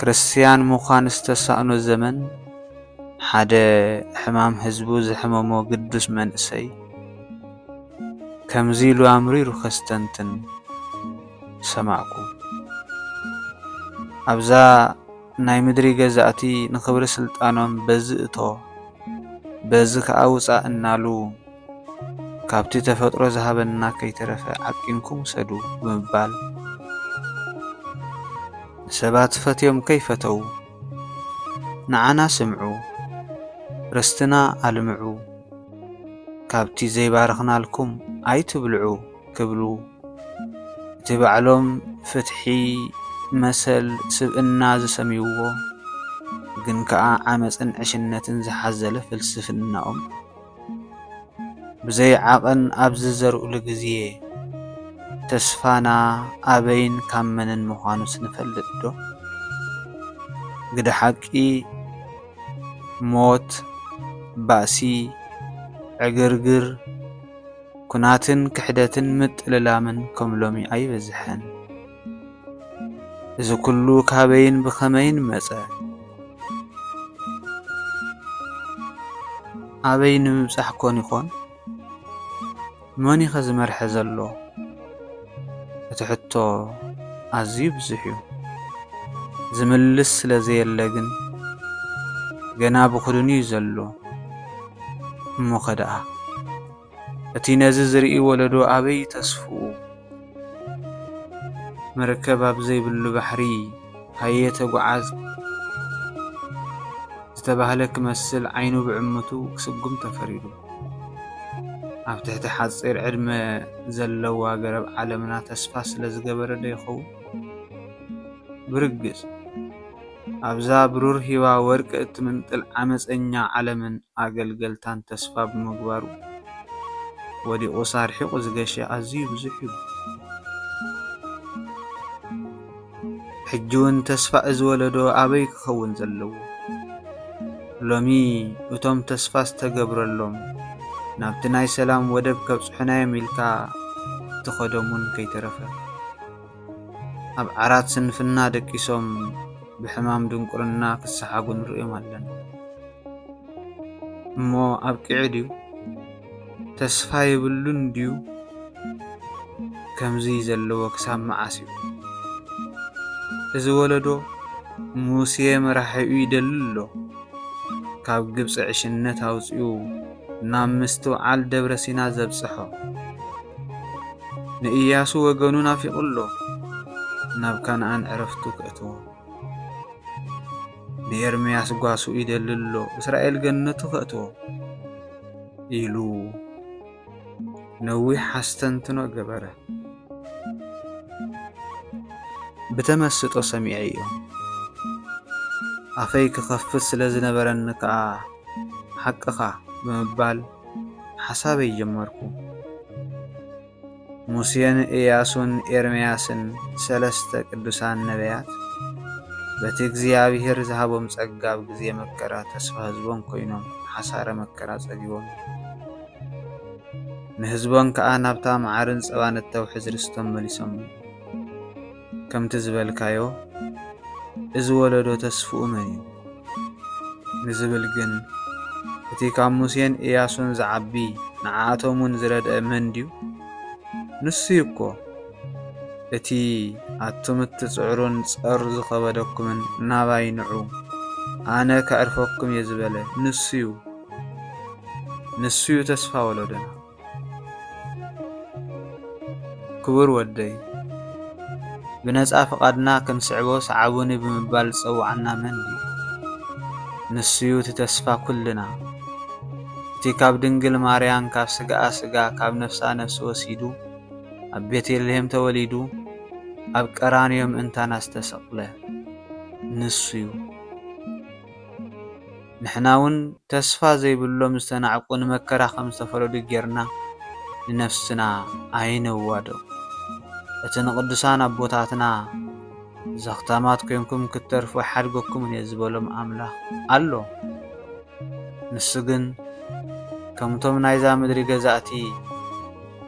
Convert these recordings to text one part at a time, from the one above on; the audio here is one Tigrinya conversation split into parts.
ክርስትያን ምዃን ዝተሳእኖ ዘመን፣ ሓደ ሕማም ህዝቡ ዘሕመሞ ግዱስ መንእሰይ ከምዚ ኢሉ ኣምሪሩ ከስተንትን ሰማዕኩ። ኣብዛ ናይ ምድሪ ገዛእቲ ንኽብሪ ስልጣኖም በዚ እቶ በዚ ከኣ ውጻእ እናሉ፣ ካብቲ ተፈጥሮ ዝሃበና ከይተረፈ ዓቂንኩም ውሰዱ ብምባል ንሰባት ፈትዮም ከይፈተዉ ንዓና ስምዑ ርስትና ኣልምዑ ካብቲ ዘይባረኽናልኩም ኣይትብልዑ ክብሉ እቲ ባዕሎም ፍትሒ መሰል ስብእና ዝሰምይዎ ግን ከኣ ዓመጽን ዕሽነትን ዝሓዘለ ፍልስፍናኦም ብዘይ ዓቐን ኣብ ዝዘርኡሉ ግዜ፣ ተስፋና ኣበይን ካብ መንን ምዃኑስ ንፈልጥዶ? ግደ ሓቂ፣ ሞት፣ ባእሲ፣ ዕግርግር፣ ኲናትን ክሕደትን ምጥልላምን ከም ሎሚ ኣይበዝሐን። እዚ ኩሉ ካበይን ብኸመይን መጸ? ኣበይ ንምብጻሕ ኮን ይኾን? መን እዩ ዝመርሐ ዘሎ? እቲ ሕቶ ኣዝዩ ብዙሕ እዩ። ዝምልስ ስለ ዘየለ ግን ገና ብኹድኑ እዩ ዘሎ። እሞኸ ደኣ! እቲ ነዚ ዝርኢ ወለዶ ኣበይ ተስፍኡ መርከብ ኣብ ዘይብሉ ባሕሪ ሃየ ተጓዓዝ ዝተባህለ ክመስል ዓይኑ ብዕምቱ ክስጉም ተፈሪዱ። ኣብ ትሕቲ ሓፂር ዕድመ ዘለዋ ገረብ ዓለምና ተስፋ ስለ ዝገበረ ዶ ይኸውን? ብርግፅ ኣብዛ ብሩር ሂባ ወርቂ እትምንጥል ዓመጸኛ ዓለምን ኣገልገልታን ተስፋ ብምግባሩ ወዲቑስ ኣርሒቑ ዝገሸ ኣዝዩ ብዙሕ እዩ። ሕጂውን ተስፋ እዚ ወለዶ ኣበይ ክኸውን ዘለዎ? ሎሚ እቶም ተስፋ ዝተገብረሎም ናብቲ ናይ ሰላም ወደብ ከብጽሑናዮም ኢልካ እትኸዶምውን ከይተረፈ፣ ኣብ ዓራት ስንፍና ደቂሶም ብሕማም ድንቁርና ክሰሓጉ ንርእዮም ኣለና እሞ ኣብቂዑ ድዩ ተስፋ የብሉን ድዩ ከምዚ ዘለዎ ክሳብ መዓስ እዩ እዚ ወለዶ ሙሴ መራሒኡ ይደሊ ኣሎ ካብ ግብፂ ዕሽነት ኣውፅኡ ናብ ምስትውዓል ደብረ ሲና ዘብጽሖ። ንእያሱ ወገኑ ናፊቑ ኣሎ ናብ ካንኣን ዕረፍቱ ከእትዎ። ንኤርምያስ ጓሱ ይደሊ ኣሎ እስራኤል ገነቱ ከእትዎ ኢሉ ነዊሕ ኣስተንትኖ ገበረ። ብተመስጦ ሰሚዐዮ። ኣፈይ ክኸፍት ስለ ዝነበረኒ ከኣ ሓቅኻ ብምባል ሓሳበይ ጀመርኩ። ሙሴን እያሱን ኤርምያስን ሰለስተ ቅዱሳን ነበያት በቲ እግዚኣብሔር ዝሃቦም ጸጋ ኣብ ግዜ መከራ ተስፋ ህዝቦም ኮይኖም ሓሳረ መከራ ጸጊቦም ንህዝቦም ከኣ ናብታ መዓርን ጸባን እተውሕዝ ርስቶም መሊሶም። ከምቲ ዝበልካዮ እዚ ወለዶ ተስፍኡ መን እዩ? ንዝብል ግን እቲ ካብ ሙሴን ኢያሱን ዝዓቢ ንዓኣቶምውን ዝረድኤ መን ድዩ? ንሱ እዩ እኮ። እቲ ኣቱም እትጽዕሩን ጸር ዝኸበደኩምን ናባይ ንዑ፣ ኣነ ከዕርፈኩም እየ ዝበለ ንሱ እዩ። ንሱ እዩ ተስፋ ወሎዶና። ክቡር ወደይ ብነጻ ፍቓድና ክንስዕቦ ሰዓቡኒ ብምባል ዝጸውዓና መን እዩ? ንሱዩ እቲ ተስፋ ኩልና እቲ ካብ ድንግል ማርያም ካብ ስጋኣ ስጋ ካብ ነፍሳ ነፍሲ ወሲዱ ኣብ ቤተልሔም ተወሊዱ ኣብ ቀራንዮ ምእንታና ዝተሰቕለ ንሱዩ። ንሕናውን ተስፋ ዘይብሎም ዝተናዕቁ ንመከራ ከም ዝተፈረዱ ጌርና ንነፍስና ኣይነዋድቕ። እቲ ንቕዱሳን ኣቦታትና ዘኽታማት ኮይንኩም ክትተርፉ ኣይሓድገኩምን እየ ዝበሎም ኣምላኽ ኣሎ። ንሱ ግን ከምቶም ናይዛ ምድሪ ገዛእቲ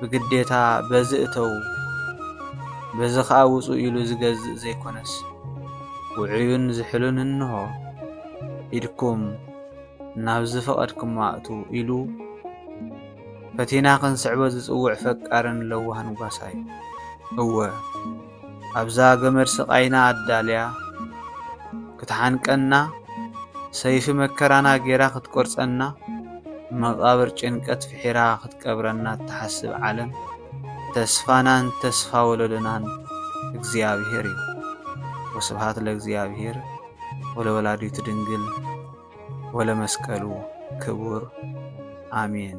ብግዴታ በዚ እተዉ በዚ ኸኣ ውጹ ኢሉ ዝገዝእ ዘይኮነስ ውዑዩን ዝሕሉን እንሆ። ኢድኩም ናብ ዝፈቐድክሞ ኣእትዉ ኢሉ ፈቲና ክንስዕቦ ዝጽውዕ ፈቃርን ለዋህን ጓሳይ እወ ኣብዛ ገመድ ስቓይና ኣዳልያ ክትሓንቀና ሰይፊ መከራና ጌራ ክትቆርጸና መቓብር ጭንቀት ፍሒራ ክትቀብረና እትሓስብ ዓለም ተስፋናን ተስፋ ወለዶናን እግዚኣብሔር እዩ። ወስብሃት ለእግዚኣብሔር። ወለወላዲቱ ድንግል ወለመስቀሉ ክቡር ኣሜን።